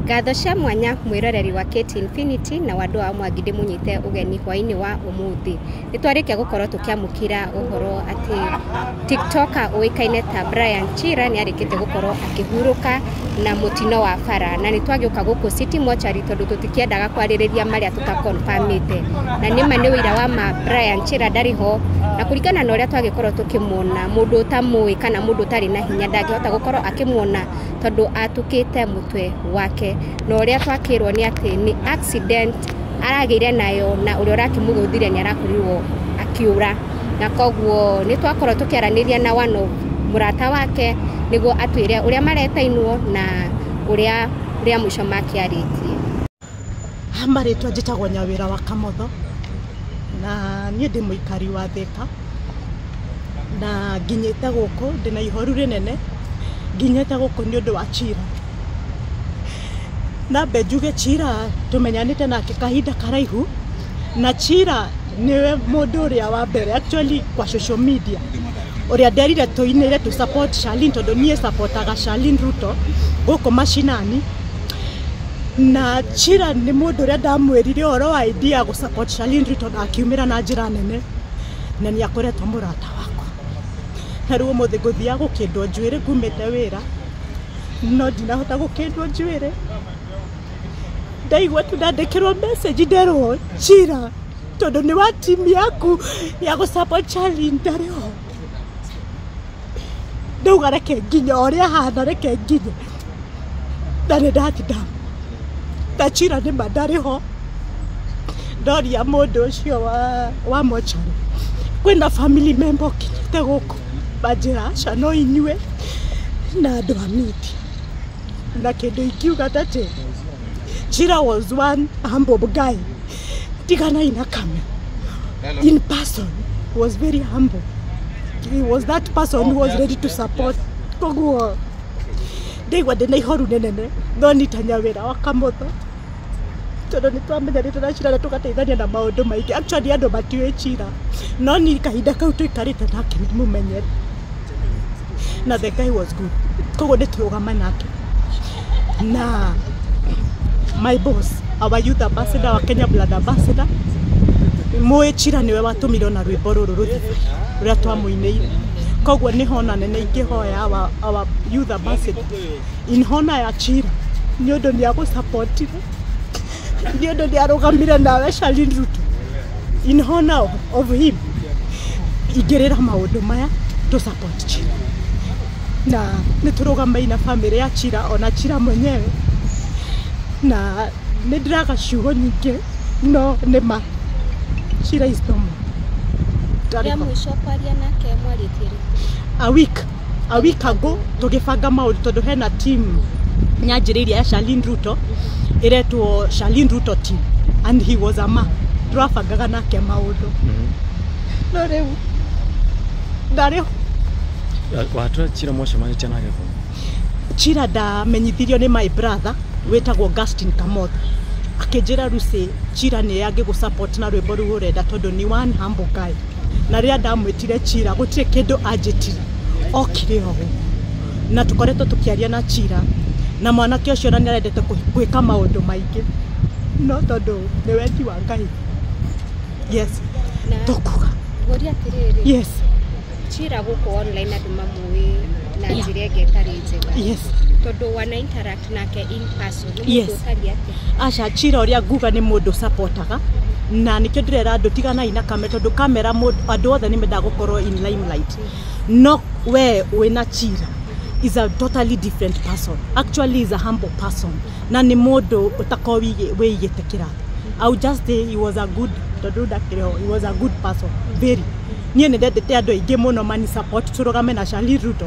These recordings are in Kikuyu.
Ngatho cia mwanya mwĩroreri wa KT Infinity na wandũ wa mwangi ndĩmũnyite ũgeni hwainĩ wa ũmũthĩ nĩ twarĩkia gũkorwo tũkĩamũkĩra ũhoro atĩ tiktoker ũĩkaine ta Brian Chira nĩ arĩkĩte gũkorwo akĩhurũka na mũtino wa bara na nĩ twagĩũka gũkũ City Mortuary tondũ tũtikĩendaga kwarĩrĩria marĩa tũtakonfamĩte na nĩma nĩ ũira wa ma Brian Chira ndarĩ ho na kũringana na ũrĩa twagĩkorwo tũkĩmuona mũndũ ũtamũĩ kana mũndũ ũtarĩ na hinya ndangĩhota gũkorwo akĩmuona tondũ atũkĩte mũtwe wake na ũrĩa twakĩrwo nĩ atĩ nĩ accident aragĩire nayo na ũrĩa ũrakĩmũgũthire nĩ arakorirwo akiura na koguo nĩ twakorwo tũkĩaranĩria na one of mũrata wake nĩguo atwĩre ũrĩa maretainwo na ũrĩa rĩa mũico makĩarĩtie. Ha marĩtwa njĩtagwo Nyawĩra wa Kamotho, na niĩ ndĩ mũikari wa Thĩka, na nginyĩte gũkũ ndĩna ihoru rĩnene, nginyĩte gũkũ nĩ ũndũ wa cira. Nambe njuge cira tũmenyanĩte nake kahinda karaihu. na Chira nĩwe mũndũ ũrĩa wa mbere actually kwa social media ũrĩa nderire tũinĩre tũ support Shalin tondũ niĩ supportaga Shalin Ruto gũkũ mashinani na Chira nĩ mũndũ ũrĩa ndamwĩrire ũhoro wa idea gũ support Shalin Ruto na akiumĩra na njĩra nene na nĩ akoretwo mũrata wakwa na rĩu ũmũthĩ ngũthiaga gũkĩndwo njuĩrĩ ngumĩte wĩra no ndinahota gũkĩndwo njuĩrĩ ndaigua tu ndandĩkĩrwo message nderwo njira tondũ nĩ wa timu yaku ya gå support Charlie ndarĩ ho ndauga reke nginye o ũrĩa hana reke nginye na nĩ ndatinda na njira nĩ ma ndarĩ ho ndoria mũndũ ũcio wa wa mocarĩ kwĩna family member ũkinyĩte gũkũ manjĩra aca no inyuĩ na andũ a media na kĩndũ ingiuga atĩ Chira was one humble guy tigana ina kame in person was very humble he was that person who was ready to support koguo ndaigua ndĩ na ihoru nĩnene no nitanya wĩra wa kamũtho tondũ nĩ twamenyanĩte na cira na tũgateithania na maũndũ maingĩ actually andũ matiũĩ cira no ni kahinda kau tũikarĩte nake nĩ mũmenyete na the guy was good koguo nĩ tũrũgama nake na my boss our youth ambassador wa Kenya blood ambassador mũĩ chira nĩwe watũmire ona rwĩmbo rũrũ rũthiĩ rũrĩa twamũinĩire koguo nĩ hona nene ingĩhoya our, our youth ambassador in hona ya chira nĩ ũndũ nĩ agũsapotire ndio ndo ndiarũgamire nawe Charlene Ruto in honor of him ingĩrĩra maũndũ maya to support Chira na nĩ tũrũgamai na family ya Chira ona Chira mwenyewe na nĩ ndĩraga ciugo nyingĩ no nĩ ma Chira is no more Ndarĩ Rĩa ho. mũico kwaria nake mwarĩtie rĩ? a week a week ago tũgĩbanga maũndũ tondũ hena team yanjĩrĩirie ya Charlene Ruto ĩretwo Charlene Ruto team and he was a man tũrabangaga nake maũndũ no rĩu ndarĩ watwä cira mwacemanä nake kå cira ndamenyithirio nĩ my brother wĩtagwo Augustine Kamoth akĩnjĩra Lucy cira nĩ angĩgũ support na rwĩmbo rũu ũrenda tondũ nĩ one humble guy na rĩrĩa ndamwĩtire cira gũtirĩ kĩndũ anjĩtire okire o ũguo na tũkoretwo tũkĩaria na cira na mwanake ũcio ona nĩarendete kũ- gwĩka maũndũ maingĩ no tondũ nĩ wendi wa ngai yes Na tũkuga ngũria atĩrĩrĩ, yes cira gũkũ online andũ mamũĩ na Yes. njĩra ĩngĩ ĩtarĩ njega. yes Tondũ wana interact nake in person nĩ Yes. mũndũ ũtariĩ atĩa aca cira ũrĩa nguga nĩ mũndũ supportaga na nĩkĩo ndĩrera andũ tiganai na kamera tondũ kamera mũndũ- andũ othe nĩ mendaga gũkorwo in limelight no we wĩna cira is a totally different person actually is a humble person na nĩ mũndũ ũtakorwo wĩigĩ- wĩigĩte kĩrathi I would just say he was a good tondũ ndakĩrĩ ho he was a good person very niĩ nĩ ndendete andũ aingĩ mũno mani support tũrũgame na Charlie Ruto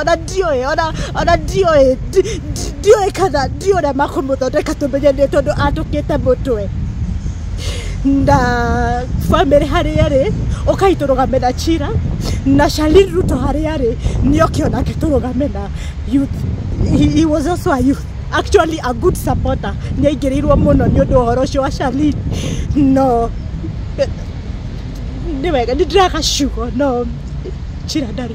ona ndiũĩ ona ona ndiũĩ ndi- ndi- ndiũĩ kana ndiũĩ ũrĩa makũmũthondeka tũmenyane tondũ atũkĩte mũtwe na bamĩrĩ harĩa rĩ ũkai tũrũgame na chira na Shalin Ruto harĩa rĩ nĩ oke onake tũrũgame na youth he, he was also a youth actually a good supporter nĩ aingĩrĩirwo mũno nĩ ũndũ wa ũhoro ũcio wa Shalin no nĩ wega nĩ ndĩraga ciugo no chira ndarĩ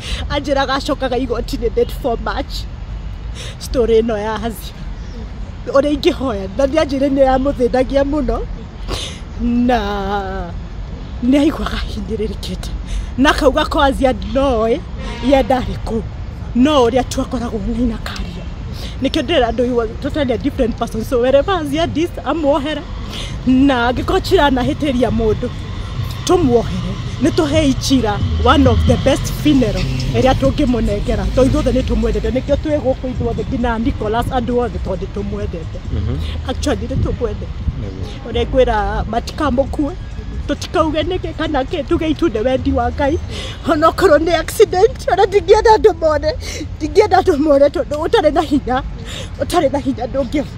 anjĩraga acokaga igoti-inĩ date for march story ĩno ya hazi ũrĩa ingĩhoya na nĩ anjĩre nĩ yamũthĩnagia mũno na nĩ aiguaga hinyĩrĩrĩkĩte na akauga ko azia ndinoĩ ye ndarĩ kũu no ũrĩa tu akoragwo nĩ na karia nikio ndira andu iwa totally a different person so wherever as you are this amuohere na angĩkorwo chira anahĩtĩria mũndũ tũmuohere nĩ tũhei cira one of the best funeral ĩrĩa tũngĩmũnengera to ithuothe nĩ tũmwendete nĩkĩo twĩ gũkũ ithuothe nginya Nicholas andũ othe tondũ nĩ tũmwendete actually nĩ tũkwendete ũrĩa ngwĩra matikamũkue tũtikauge nĩkĩ kana kĩ tuge itu nĩ wendi wa ngai onokorwo nĩ accident ona ndingĩenda andũ mone ndingĩenda andũ mone tondũ ũtarĩ na hinya ũtarĩ na hinya ndũngĩ